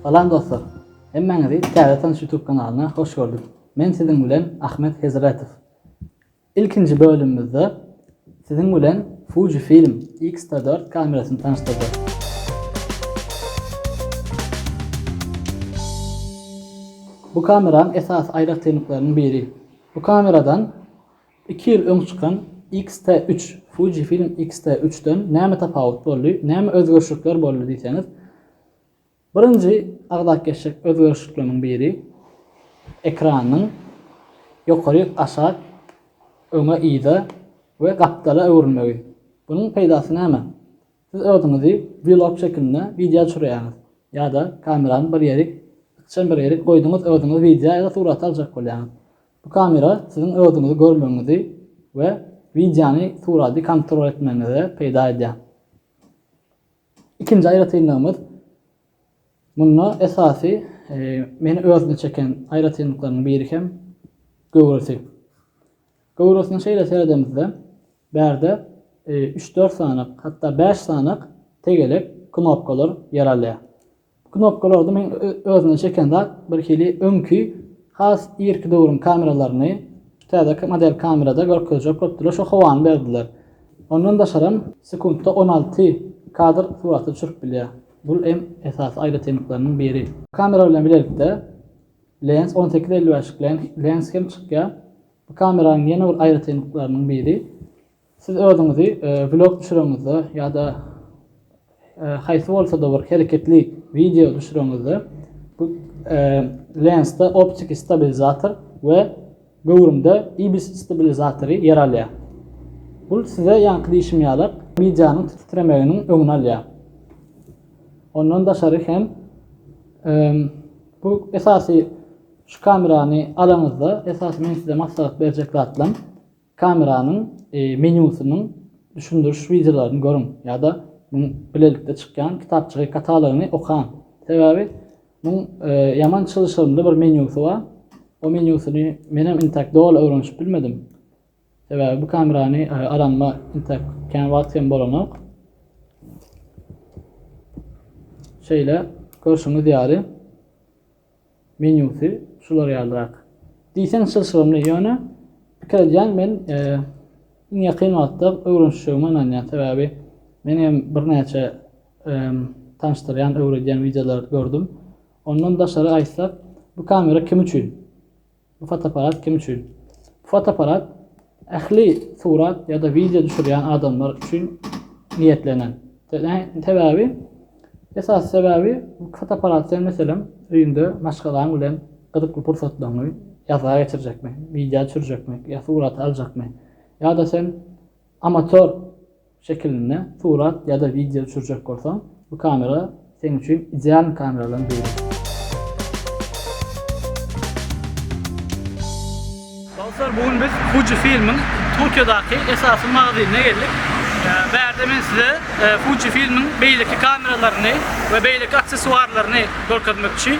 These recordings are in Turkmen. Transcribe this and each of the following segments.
Salam dostlar! Hemmäňizi Täze tanyş YouTube kanalyna hoş gördük. Men siziň bilen Ahmet Hezretow. Ilkinji bölümimizde siziň bilen Fuji Film X-T4 kamerasyny tanyşdyrjak. Bu kameranyň esasy aýratynlyklarynyň biri. Bu kameradan Iki ýyl öň çykan XT3, Fujifilm XT3 den näme tapawut boldy, näme özgerişlikler boldy diýseňiz, birinji agzapgeçjek özgerişlikleriň biri ekranyň ýokary aşak, öňe yza we gapdala öwrülmegi. Bunuň peýdasy näme? Siz özüňizi vlog şekilinde wideo düşürýäňiz ýa-da kamerany bir ýerik, ykjam bir ýerik goýduňyz özüňizi wideo ýa-da surata aljak bolýaňyz. Bu kamera siziň özüňizi görmegiňizi we wideony, suraty kontrol etmegiňize peýda edýär. Ikinji aýratynlygymyz, munda esasy meni özüne çeken aýratynlyklaryň biri hem göwresi. Göwresine şeýle seredemizde, bärde üç-dört sany, hatda bäş sany tegelek knopkalar ýer alýar. Knopkalarda meň özüne çeken zat birhili öňki has irki döwrüň kameralaryny täze model kamerada görkezjek bolupdylar şo howany berdiler. Ondan daşaram sekuntda on alty kadr suraty düşürip bilýär. Bul em esasy aýratynlyklarynyň biri. Kamera bilen bilelikde lens on sekiz elli bäşlik lens hem çykýar. Bu kameranyň ýene bir aýratynlyklarynyň biri. Siz özüňizi vlog düşüreňizde ýa-da haýsy bolsa-da bir hereketli wideo düşüreňizde bu lensde optiki stabilizator we göwrümde ibis stabilizatory ýer alýar. Bu size ýaňky diýşim ýaly wideonyň titremeginiň öňüni alýar. Ondan daşary hem bu esasy şu kamerany alaňyzda esasy meň size maslahat berjek zatlam Kameranyň menýusynyň düşündiriş wideolaryny görüň ýa-da muň bilelikde çykýan kitapjygy katalogyny okaň. Sebäbi muň ýaman çylşyrymly bir menýusy bar. O menýusyny menem intäk doly öwrenişip bilmedim. Sebäbi bu kamerany alanyma intäk kän wagt hem bolanok. Şeýle görşüňiz ýaly. Menýusy şular ýalyrak. Diýseň çylşyrymly, ýöne pikir edýän men iň ýakyn wagtda öwrenişjegime ynanýan. Sebäbi men hem birnäçe tanyşdyrýan, öwredýän wideolar gördüm. Ondan daşary aýtsak, bu kamera kim üçin? Bu fotoapparat kim üçin? Bu fotoapparat ähli surat ýa-da wideo düşürýän adamlar üçin niýetlenen. Sebäbi, esasy sebäbi bu fotoapparat sen meselem öýüňde maşgalaň bilen gyzykly pursatlaryňy ýazga geçirjekmi, wideo düşürjekmi ýa surat aljakmy? Ýa-da sen Amator şekilinde surat ýa-da wideo düşürjek bolsaň, bu kamera seň üçin ideal kameralardan biri. Dostlar, bu gün biz Fuji Filmiň Tokiodaki esasy magazinine geldik. Bärde men size Fuji Filmiň beýleki kameralaryny we beýleki aksesuarlaryny görkezmekçi.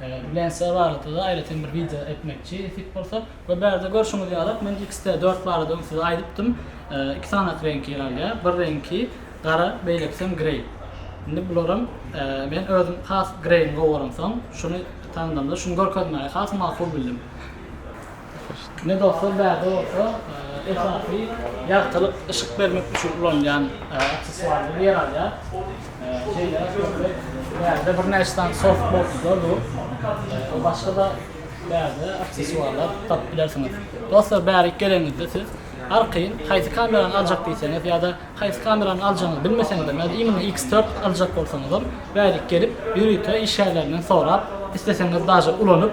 Bilen size baglylykda-da aýratyn bir wideo etmekçi fit bolsa. We bärde görşüňiz ýalak men XT dört barada öň size aýdypdym. Iki sanat reňki ýer alýar. Bir reňki gara, beýlekisem greý. Indi bularam men özüm has greýini gowy göremsoň, şuny tanadamda şuny görkezmäge has makul bildim. Medoslar bärde bolsa esasy ýagtylyk, yşyk bermek üçin ulanylýan aksessuar bolup ýer alýar. Şeýle-de görmek, bärde birnäçe sany softbokslar dur. Başga-da bärde aksessuarlar tapyp bilersiňiz. Dostlar, bärik gelenizde siz arkaýyn haýsy kamerany aljak diýseňiz ýa-da haýsy kamerany aljagyňyzy bilmeseňizem ýa-da imенно X-dört aljak bolsaňyzam bärik gelip ýörite işgärlerinden sorap, isleseňiz daže ulanyp,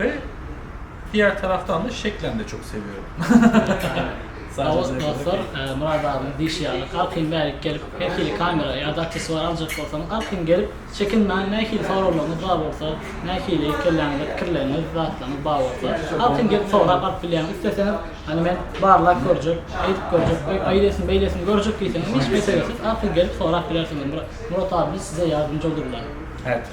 Ve diğer taraftan da şeklen de çok seviyorum. Dawut dostlar, e, Murad abiniň diýşi ýaly, galkyň bärik gelip, her hili kamera ýa-da aksesuar aljak bolsaňyz, galkyň gelip, çekinmäň, nähili soraglaryňyz bar bolsa, nähili kelläňizde pikirleriňiz, zatlaryňyz bar bolsa, galkyň gelip sorap alyp bilýäňiz. Isleseňiz, hany men barlap görjek, eýdip görjek, oý, aýlesin, beýlesin görjek diýseňiz, hiç meselesiz, galkyň gelip sorap bilersiňiz. Murad abimiz size ýardymjy bolurlar. Evet.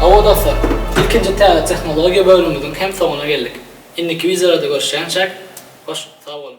Hawa dostlar, ilkinji täze tehnologiýa bölümimiziň hem soňuna geldik. Indiki wideolarda görüşýänçäk, hoş sag boluň!